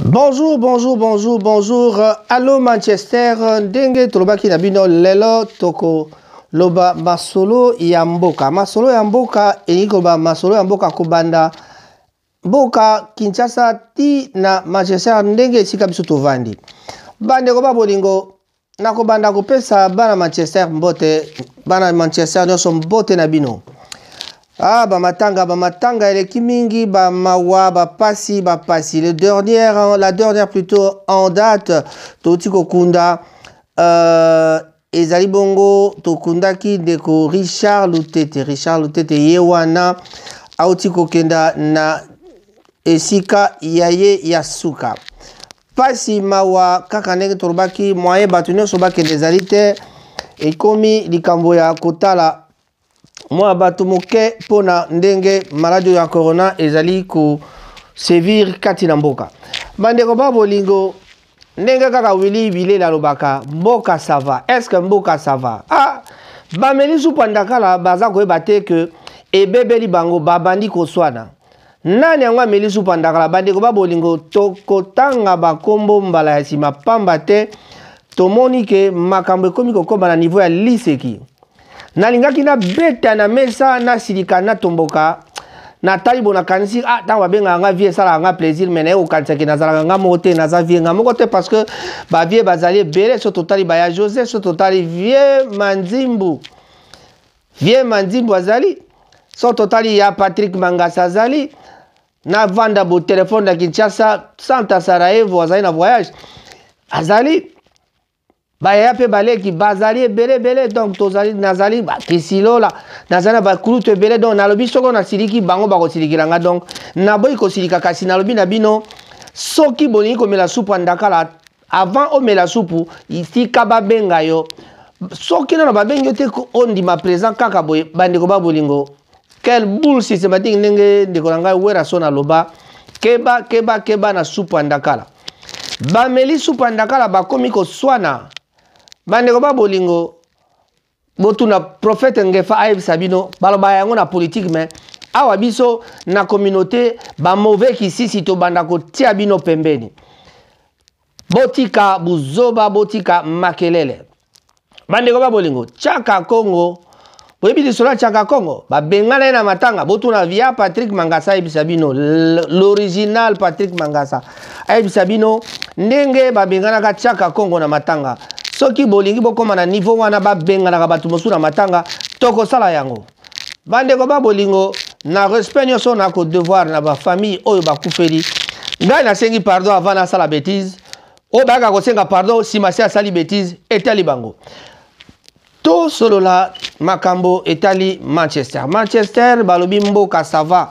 Bonjour, bonjour, bonjour, bonjour. Allô Manchester, ndenge tolobaki na bino lelo toko loba masolo ya mboka. Masolo ya mboka elingi koloba masolo ya mboka kobanda mboka Kinshasa ti na Manchester ndenge esika biso tovandi. Bandeko ba bolingo nakobanda kopesa bana manchester mbote bana manchester nyonso mbote na bino ah bamatanga bamatanga eleki mingi bamawa bapasi bapasi le dernière la dernière plutôt en date touti kokunda euh, ezali bongo tokundaki ndeko richard lutete richard lutete ye wana auti kokenda na esika ya ye ya suka pasi mawa kaka ndenge tolobaki moyen bato nyonso bakende ezali te ekomi likambo ya kotala mwa bato moke mpo na ndenge maladi oyo ya corona ezali kosevir kati na mboka bandeko ba bolingo ndenge kaka wili bilela alobaka mboka sava estce mboka sava ah, bameli supa ndakala baza koyeba te ke ebebeli bango babandi koswana nani yango ameli supa ndakala bandeko ba bolingo tokotanga bankombo mbala ya nsima pamba te tomoni ke makambo ekomi kokoma na niveau ya liseki nalingaki nabeta na mesa nasilika natomboka natali bo nakanisi ah ntango babengaka nga vie esalaka nga plaisir mai naye kokanisa ke nazalaka nga moko te naza vie nga moko te parce que bavie bazali ebele so totali baya joseph so totali vie manzimbu Vieux Manzimbo azali, so totali ya Patrick Mangasa azali, na Vanda bo telefone na Kinshasa, Santa Sarajevo azali na voyage, azali bayaya mpe baleki bazali ebele ebele donc tozali nazali bakisilola nazali na bakulutu ebele donc nalobi soko nasiliki bango bakosilikela nga donc naboyi kosilika kasi nalobi na bino soki bolingi komela supu ya ndakala avant omela supu tika babenga yo soki nano babengi yo te ondima présent kaka boye bandeko ba bolingo quel boule systématique ndenge ndeko na ngai werason aloba keba keba keba na supu ya ndakala bameli supu ya ndakala bakomi koswana bandeko ba bolingo botuna prophète ngefa ayebisa bino baloba yango na politique mais awa biso na communauté bamauvais kisisi tobanda kotia bino pembeni botika buzoba botika makelele bandeko ba bolingo chaka congo boyebi lisolo ya chaka congo babengana ye na matanga botuna via patrick mangasa ayebisa bino l'original patrick mangasa ayebisa bino ndenge babenganaka tiaka kongo na matanga soki bolingi bokoma na niveau wana babenganaka bato mosusu na matanga tokosala yango bandeko ba bolingo na respect nyonso na kodevoir na bafamille oyo bakufeli ngai nasengi pardon avant nasala bétise oyo bayaka kosenga pardon nsima se asali bétise etali bango tosolola makambo etali manchester manchester balobi mboka sava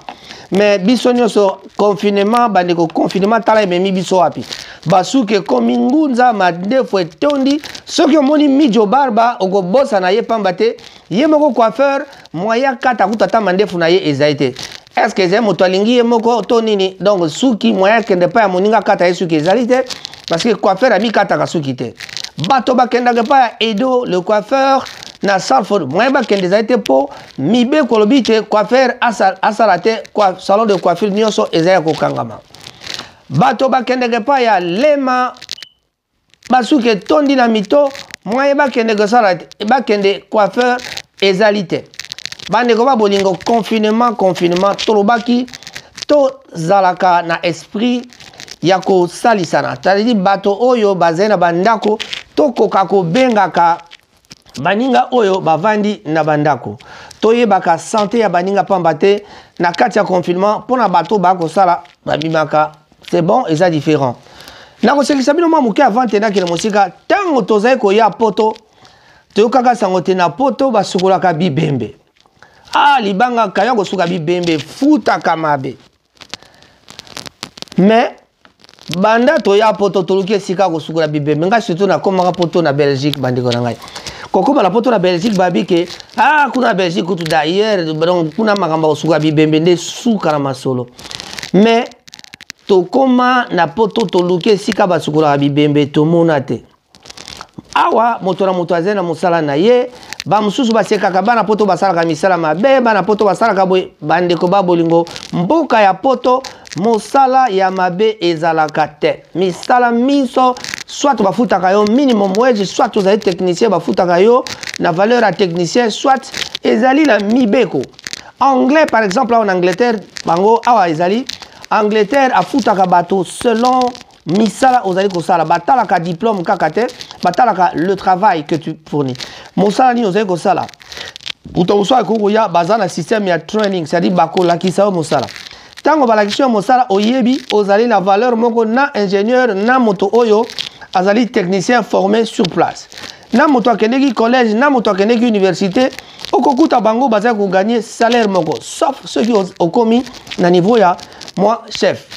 me biso nyonso confinement bandeko confinement tala ememi biso wapi basuki ekomi ngunza mandefu etondi soki omoni mijo barba okobosana ye pamba te ye moko coiffeur moya kata kutu ata mandefu na ye ezali te est-ce que ezali moto alingi ye moko to nini donc suki moyen akende epai ya moninga akata ye suki ezali te parce que coiffeur amikataka suki te bato bakendaka epai ya edo le coiffeur na salford moyen bakende ezali te mpo mibeko olobi te coiffeur asala te salon de coiffure nyonso ezali ya kokangama bato bakendaka epai ya lema basuki etondi na mito mwaye bakende kosala te bakende coiffeur ezali te bandeko ba bolingo confinement confinement tolobaki tozalaka na esprit ya kosalisana tadidi bato oyo bazali na bandako tokoka kobengaka baninga oyo bavandi na bandako toyebaka sante ya baninga mpamba te na kati ya confinement mpo na bato baya kosala babimaka c'est bon eza différent nakosekisa bino mwa moke avant te nakende mosika ntango tozali koya poto toyokaka sango te na poto basukolaka bibembe ah libanga kayo akosuka bibembe futaka mabe mais banda toya poto toluki esika kosukola bibembe ngai surtout nakomaka poto na belgique bandeko na ngai kokoma na poto na belgique babi ke ah kuna na belgique kutu d'ailleurs donc kuna makambo ya kosukola bibembe nde suka na masolo mais tokoma na poto toluki esika basukolaka bibembe tomona te awa moto na moto azali na mosala na ye bamosusu basekaka bana poto basalaka misala mabe bana poto basalaka boye bandeko ba bolingo mboka ya poto mosala ya mabe ezalaka te misala minso soit bafutaka yo minimum wage soit ozali technicien bafutaka yo na valeur ya technicien soit ezali na mibeko anglais par exemple awa na angleterre bango awa ezali angleterre afutaka bato selon misala ozali kosala batalaka diplôme kaka te batalaka le travail que tu fournis mosala nini ozali kosala moto mosusu akoki koya baza na système ya training c'est-à-dire bakolakisa yo mosala ntango balakisi yo mosala oyebi ozali na valeur moko na ingénieur na moto oyo azali technicien formé sur place na moto akendeki collège na moto akendeki université okokuta bango bazali koganye salaire moko sauf soki okomi na niveau ya mwa chef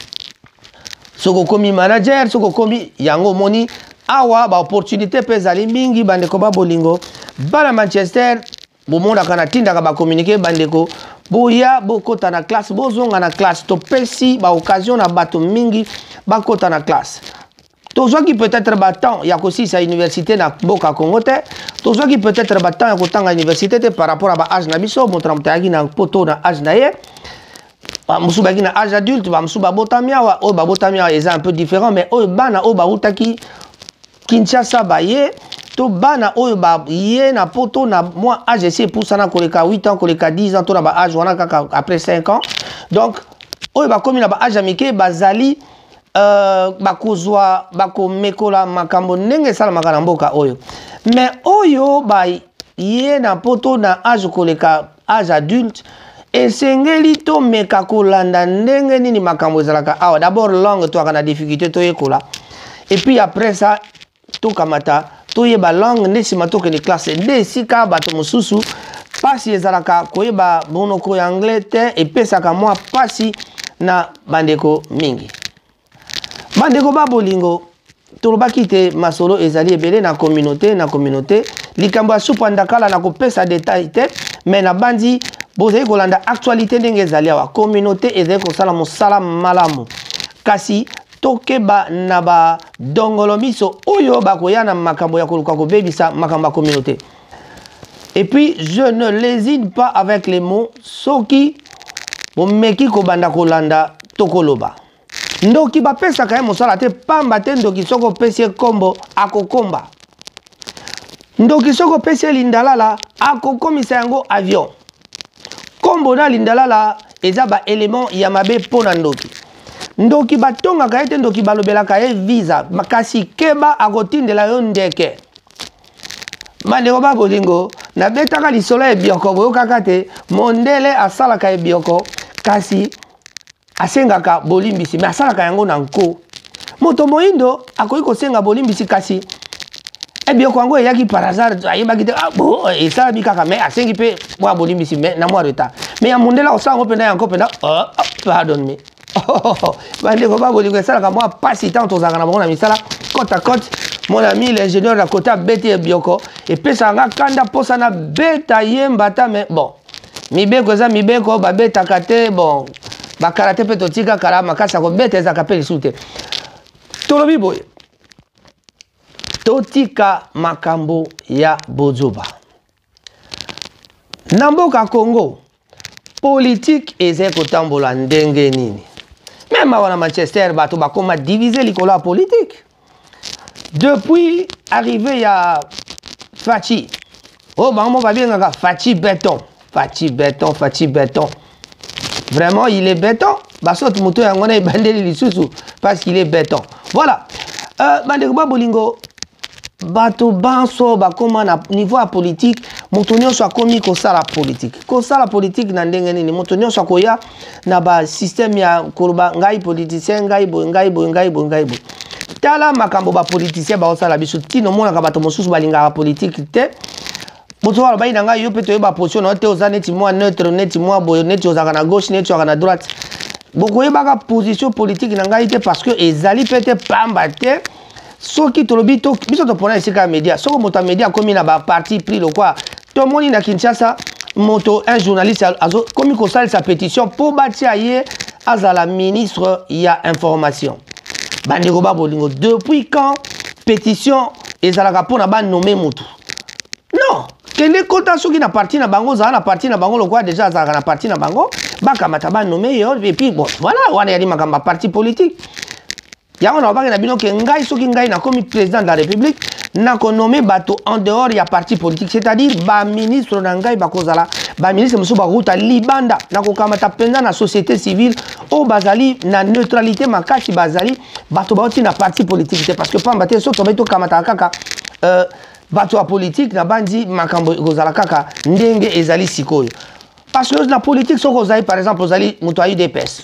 soki okomi manager soki okomi yango omoni awa baopportunité mpe ezali mingi bandeko ba bolingo bana manchester bomonaka natindaka bacommunike bandeko boya bokota na classe bozonga na classe topesi baoccasion na bato mingi bakota na classe tozwaki peut-être batemps ya kosilisa université na mboka congo te tozwaki peut-être batemps ya kotanga université te par rapport ya baage na biso moto na moto ayaki na poto na age na ye bamosusu bayaki na age adulte bamosusu babotami awa oyo babotami awa eza un peu différent mais oyo bana oyo bautaki kinshasa baye to bana oyo baye na poto na mwa age esi epusana koleka 8 ans koleka 10 ans to na baage wana kaka après 5 ans donc oyo bakomi na baage ya mike bazali Euh, bakozwa bakomekola makambo ndenge esalamaka na mboka oyo me oyo baye na poto na age koleka age adulte esengeli tomeka kolanda ndenge nini makambo ezalaka awa dabord langue toyaka na difficulté toyekola epuis après ça tokamata toyeba langue nde nsima tokende classe nde esika bato mosusu mpasi ezalaka koyeba monoko ya anglais te epesaka mwa mpasi na bandeko mingi bandeko ba bolingo tolobaki te masolo ezali ebele na communauté na communauté likambo ya supa ndakala na kopesa detail te mai nabanzi bozali kolanda actualité ndenge ezali awa communauté ezali kosala mosala malamu kasi tokeba na badongolo miso oyo bakoya na makambo ya koluka kobebisa makambo ya communauté et puis je ne lésine pas avec les mots soki bomeki kobanda kolanda tokoloba ndoki bapesaka ye mosala te pamba te ndoki soki opesi ye nkombo akokomba ndoki soki opesi ye lindalala akokomisa yango avion nkombo na lindalala eza baelement ya mabe mpo na ndoki ndoki batongaka ye te ndoki balobelaka ye visa kasi keba akotindela yo ndeke bandeko ba bolingo nabetaka lisolo ya ebioko boyokaka te mondele asalaka ebioko kasi asengaka bolimbisi me asalaka yango na nko moto moindo akoki kosenga bolimbisi kasi ebioko eh yango eyaki par hasard ayebaki te ah, bo eh, esalami kaka mais asengi mpe mwa bolimbisi mais na mwa retard mais ya mondele akosala yango mpenza yango mpenza oh, oh, pardon me bandeko ba bolingo esalaka mwa mpasi ntango tozalaka na bango na misala cote à cote mon ami l'ingénieur na kota abeti ebioko epesaka nga kanda mposa na beta ye mbata mais bon mibeko eza mibeko babetaka te bon bakarate mpe totika kala makasi ya kobeta ezalaka mpe lisusu te tolobi boye totika makambo ya bozoba na mboka congo politike ezali kotambola ndenge nini meme awa na manchester bato bakoma divise likolo ya politike depuis arrive ya faci oyo bango moko babengaka faci beton faci beton faci beton vraiment il est beton basoki moto yango na ebandeli lisusu parce qu'il est beton voilà euh, bandeko ba bolingo bato banso bakóma na niveau ya politike moto nyonso akómi kosala politike kosala politike na ndenge nini moto nyonso akoya na ba système ya koloba ngai politicien ngai boye ngai boye ngai boye ngai boye tala makambo bapoliticien baosala biso ntina omonaka bato mosusu balingaka politike te mosusu alobaki na ngai yo mpe toyeba position na yo te oza neti mwa neutre neti mwa boye neti ozalaka na gauche neti ozalaka na droite bokoyebaka position politike na ngai te parce que ezali mpe te pamba te soki tolobi to biso topona esika ya media soko moto ya media akomi na baparti pris lokwa tomoni na kinshasa moto un journaliste akomi kosalisa pétition mpo batia ye azala ministre ya information bandeko ba bolingo depuis quand pétition ezalaka mpo na banome motu non kende kota soki na parti na bango ozala na parti na bango lokola deja azalaka na parti na bango bakamata banome yo epuis bon voilà wana yali makambo ya parti politique yango nalobaki na bino ke ngai soki ngai nakomi président de la république nakonome bato en dehors ya parti politique c'est-à-dire baministre na ngai bakozala baministre mosusu bakouta libanda nakokamata mpenza na société civile oyo bazali na neutralité makasi bazali bato bauti na parti politique te parce que pamba te soki tobai tokamataka kaka euh, bato ya politike nabanzi makambo ekozala kaka ndenge ezali sikoyo parce que na politique soki ozali par exemple ozali moto ya udps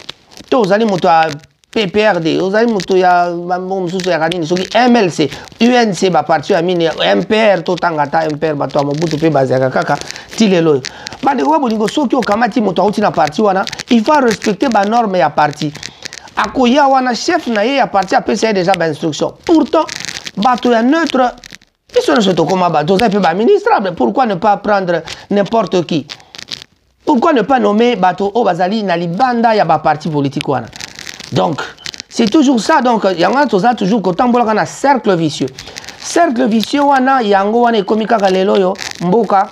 to ozali moto ya PPRD ozali moto ya bango mosusu yaka nini soki MLC UNC baparti ya mine MPR totanga ata MPR bato ya Mobutu mpe bazalaka kaka ti lelo oyo bandeko ba bolingo soki okamati moto auti na parti wana il faut respecter banorme ya parti akoya wana chef na ye ya parti apesa ye deja bainstruction pourtant bato ya neutre biso nyonso tokoma bato oza mpe baministrable pourquoi ne pas prendre n'importe qui pourquoi ne pas nommer bato oyo bazali na libanda ya baparti politique wana donc c'est toujours ça donc yango wana toza toujours kotambolaka na cercle vicieux cercle vicieux wana yango wana ekomi kaka lelo oyo mboka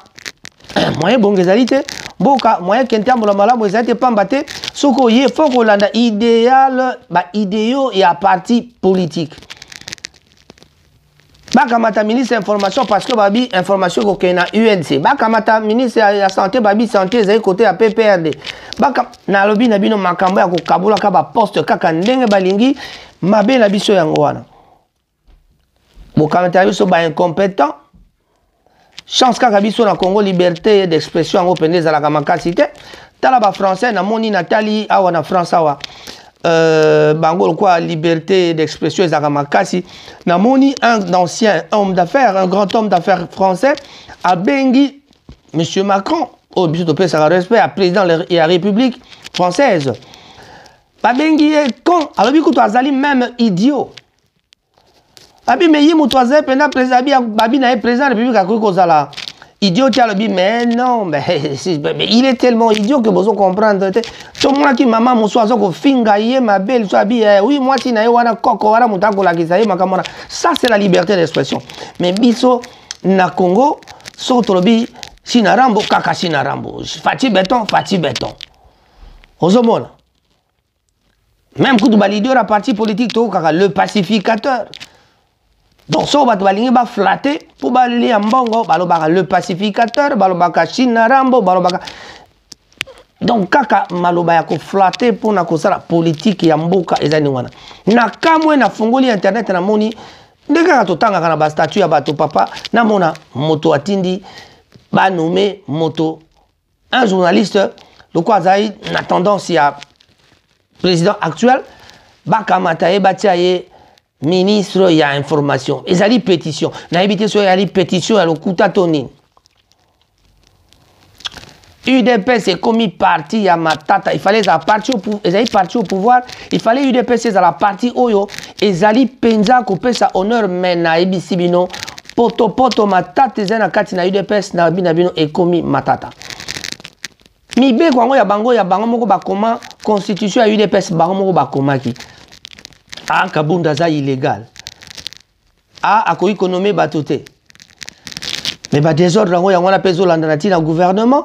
moyen bongo ezali te mboka moyen ke ntambola malamu ezali te mpamba te soki oye fo kolanda ideal baideo ya parti politique bakamata ministre ya information parce que babi information ekokende na unc bakamata ministre ya, ya santé babi santé ezali kote ya pprd Baka... nalobi na bino makambo ya kokabolaka baposte kaka ndenge balingi mabe na biso yango wana bokamata na biso baincompétent chance kaka biso na congo liberté d'expression yango mpenza ezalaka makasi te tala bafrançais namoni natali awa na france awa euh, bango lokola liberté d'expression ezalaka makasi namoni un ancien homme d'affaires un grand homme d'affaires français abengi monsieur macron oyo oh, biso topesaka respect ya président ya république française babengi ye con alobi kutu azali meme idiot abi me ye moto azali mpenza président abi babi na ye président ya république akoki kozala idiot ti alobi mais non mais, mais il est tellement idiot que bozo comprendre te tomonaki mama mosusu aza kofinga ye mabe liso abi eh, oui mwasi na ye wana koko wana moto akolakisa ye makambo wana ça c'est la liberté d'expression mais biso na congo soki tolobi sina rambo kaka sina rambo fati beton fati beton ozomona meme kutu baleader ya parti politique toyokaka le pacificateur donc soko bato balingi baflate mpo balia mbongo balobaka le pacificateur balobaka chine na rambo balobaka donc kaka maloba ya koflate mpo na kosala politike ya mboka eza ndenge wana na kamwe nafungoli internet namoni nde kaka totangaka na bastatut ya bato papa namona moto atindi banome moto un journaliste lokola azali na tendance ya président actuel bakamata ye batia ye ministre ya information ezali pétition nayebi te soki ezali pétition ya lokuta to nini udps ekomi parti ya matata ifale ezala parti ezali parti au pouvoir ifale udps ezala parti oyo ezali mpenza kopesa honneur mai nayebisi bino poto poto matata eza na kati na udps na bina bino ekomi matata mibeko yango ya bango ya bango moko bakoma constitution ya udps bango moko bakomaki a ah, kabunda aza illégal a ah, akoki konome bato te me badesordre yango yango wana mpe ezolanda na ntina gouvernement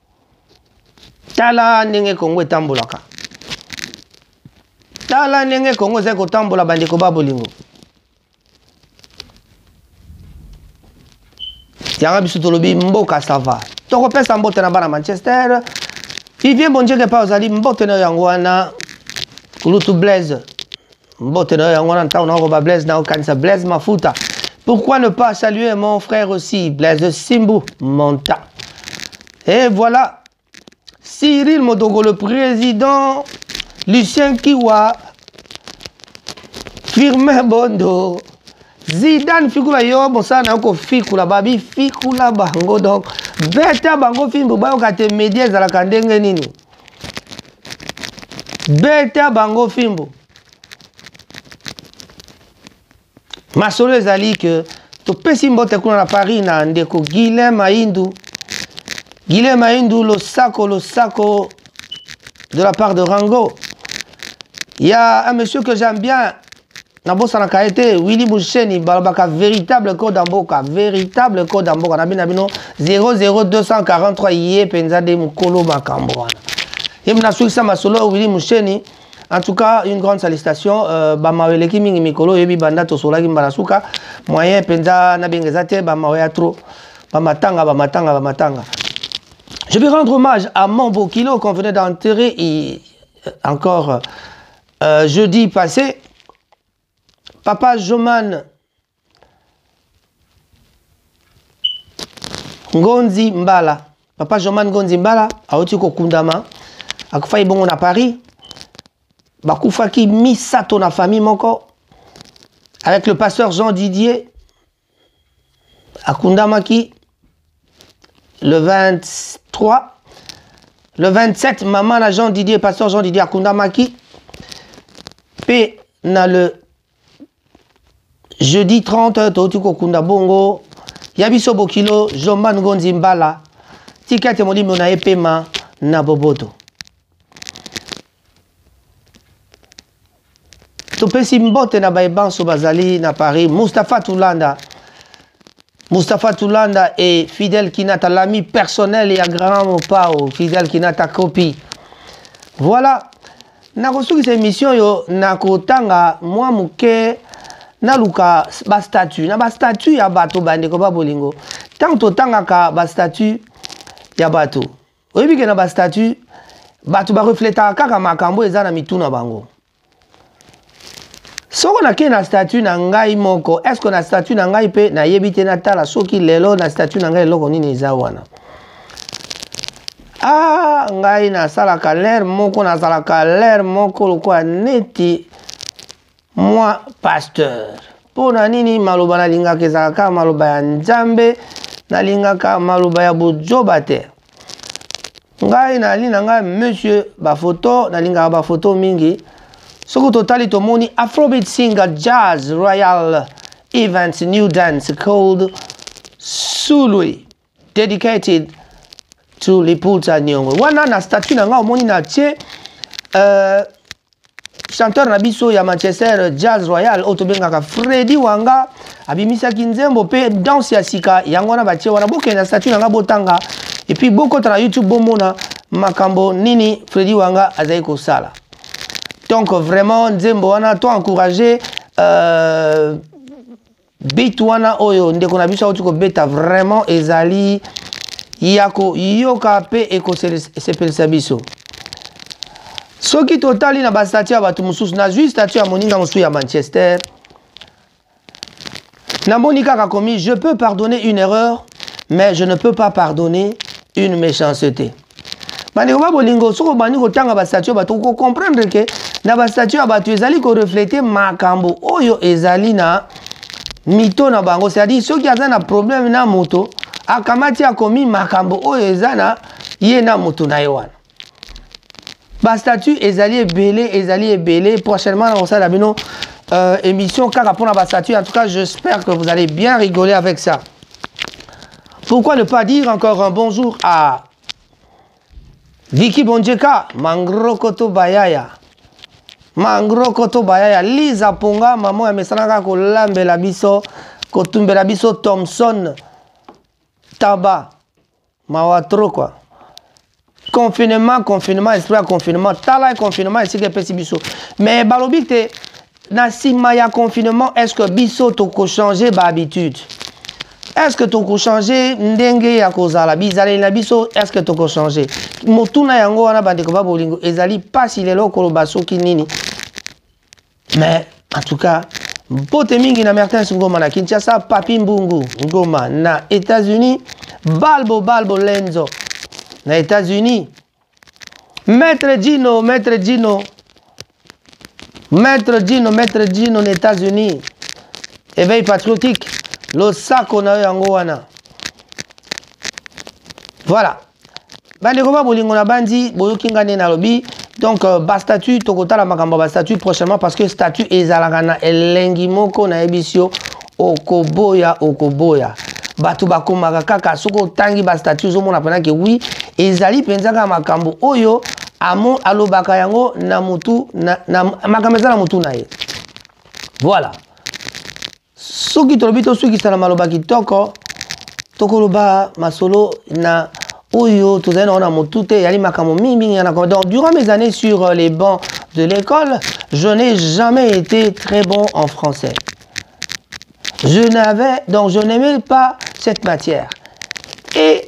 tala ndenge kongo etambolaka tala ndenge kongo ezali kotambola bandeko ba bolingo yanga biso tolobi mboka sava tokopesa mbote na bana manchester vivien bonjeke mpe ozali mbote na yango wana kulutu blaise mbote na yo yango wana ntango nakoba blaise nakokanisa blaise mafuta pourquoi ne pas saluer mon frère aussi blaise simbu monta et voilà Cyril Modogo, le président, Lucien Kiwa, Firmin Bondo, Zidane Fikula yo mosala na yo kofikula babi fikula bango donc beta bango fimbo bayoka te media ezalaka ndenge nini beta bango fimbo masolo ezali ke topesi mbote kuna na paris na ndeko guilin maindu guilin maindu losako losako de la part de rango ya un monsieur que j'aime bien nabosanaka ye te wili busheni balobaka véritable code ya mboka véritable code ya mboka na bino na bino 00243 ye mpenza nde mokolo makambo wana ye nasukisa masolo wili musheni en tout cas une grande salutation euh, bamawa eleki mingi mikolo oyebi banda tosolaki mbala suka moyen mpenza nabenga eza te bamawa ya trop bamatanga bamatanga bamatanga je vais rendre hommage à mon bokilo qu'on venait d'enterrer encore Euh, jeudi passé, Papa Joman Ngonzi Mbala, Papa Joman Ngonzi Mbala, auti kokundama, akufaki bongo na Paris, bakufaki misato na famille moko, avec le pasteur Jean Didier, akundamaki le 23 le 27 mama na jean didier pasteur jean didier akundamaki mpe na le jeudi 30 touti kokunda bongo ya biso bokilo jomba ngonzi mbala tika ete molimo na ye pema na boboto topesi mbote na baye banso bazali na paris mustapha tulanda mustapha tulanda e fidèle kinata l'ami personnel ya grand mopao fidèle kinata copie voilà nakosukisa émission oyo na kotanga mwa moke naluka bastatut na bastatut ya bato bandeko ba bolingo ntango totangaka bastatut ya bato oyebi ke na ba statut bato barefletaka kaka makambo eza na mitu na bango soko nakei na statut na ngai moko estce na statut na ngai mpe nayebi te natala soki lelo na statut na ngai eloko nini eza wana ah ngai nasalaka lere moko nazalaka lere moko lokola neti Moi, pasteur, mpo na nini maloba nalingaka ezalaka kaka maloba ya Nzambe, nalingaka maloba ya bozoba te. Ngai nali na ngai monsieur bafoto, nalingaka bafoto mingi. Soki totali tomoni Afrobeat singer Jazz Royal Events New Dance called Sului. dedicated to lipulsa niongo wana na statut na nga omoni na tie euh, chanteur na biso ya manchester jazz royal oyo tobengaka fredi wanga abimisaki nzembo mpe danse ya sika yango wana batie wana bokende na statut na nga botanga epuis bokota na youtube bomona makambo nini fredi wanga azali kosala donc vraiment nzembo wana to encourage euh, bit wana oyo ndeko na biso auti kobeta vraiment ezali ya koyoka mpe ekosepelisa biso soki totali na bastatut ya bato mosusu nazwi statut ya moninga mosusu ya manchester namoni kaka komi je peux pardonner une erreur mais je ne peux pas pardonner une méchanceté bandeko ba bolingo soki obandi kotanga bastatut ya bato okocomprendre ke na bastatut ya bato ezali koreflete makambo oyo ezali na mito na bango c'est-à-dire soki aza na problème na moto akamati akomi makambo oyo eza na ye na moto na ye wana bastatut ezali ebele ezali ebele prochainement nakosala bino euh, émission kaka mpona bastatut en tout cas j'espère que vous allez bien rigoler avec ça Pourquoi ne pas dire encore un bonjour à Vicky Bondjeka, Mangrokoto Bayaya. Mangrokoto Bayaya, Lisa Ponga, maman ya mesanaka kolambela biso, kotumbela biso Thompson Taba. Mawa trop quoi. confinement confinement esprit ya confinement tala confinement esika epesi biso mais balobi te na nsima ya confinement est ce que biso tokochange bahabitude est ce que tokochange ndenge ya kozala bizaleli na biso est ce que tokochange motuna yango wana bandeko ba bolingo ezali mpasi lelo koloba soki nini mais en tout cas mpote mingi na mertens ngoma na kinshasa papi mbungu ngoma na états-unis balbo balbo lenzo na états-unis maître dino maître dino maître dino maître dino na états-unis éveil patriotique losako na yo yango wana voilà bandeko ba bolingo na bandi boyoki nga nde nalobi donc euh, bastatut tokotala makambo ya bastatut prochainement parce que statut ezalaka na elengi moko nayebisi yo okoboya okoboya bato bakomaka kaka soki otangi bastatut ozomona mpena ke wi ezali mpenza kaka makambo oyo amo alobaka yango na mutu na, na makambo eza na mutu na ye voilà soki tolobi tosukisa na maloba kitoko tokoloba masolo na oyo tozali nango na motu te eyali makambo mingimingi ya nakoma donc durant mes années sur euh, les bancs de l'école je n'ai jamais été très bon en français je n'avais donc je n'aimais pas cette matière et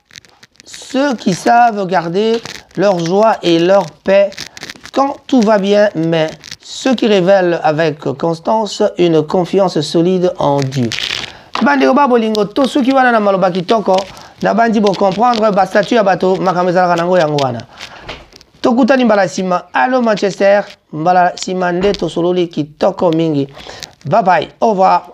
Ceux qui savent garder leur joie et leur paix quand tout va bien, mais ceux qui révèlent avec constance une confiance solide en Dieu. bandeko ba bolingo to soki wana na maloba kitoko nabandi bocomprendre bastatut ya bato makambo ezalaka nango yango wana tokutani mbala nsima allo manchester mbala nsima nde tosololi kitoko mingi babai au revoir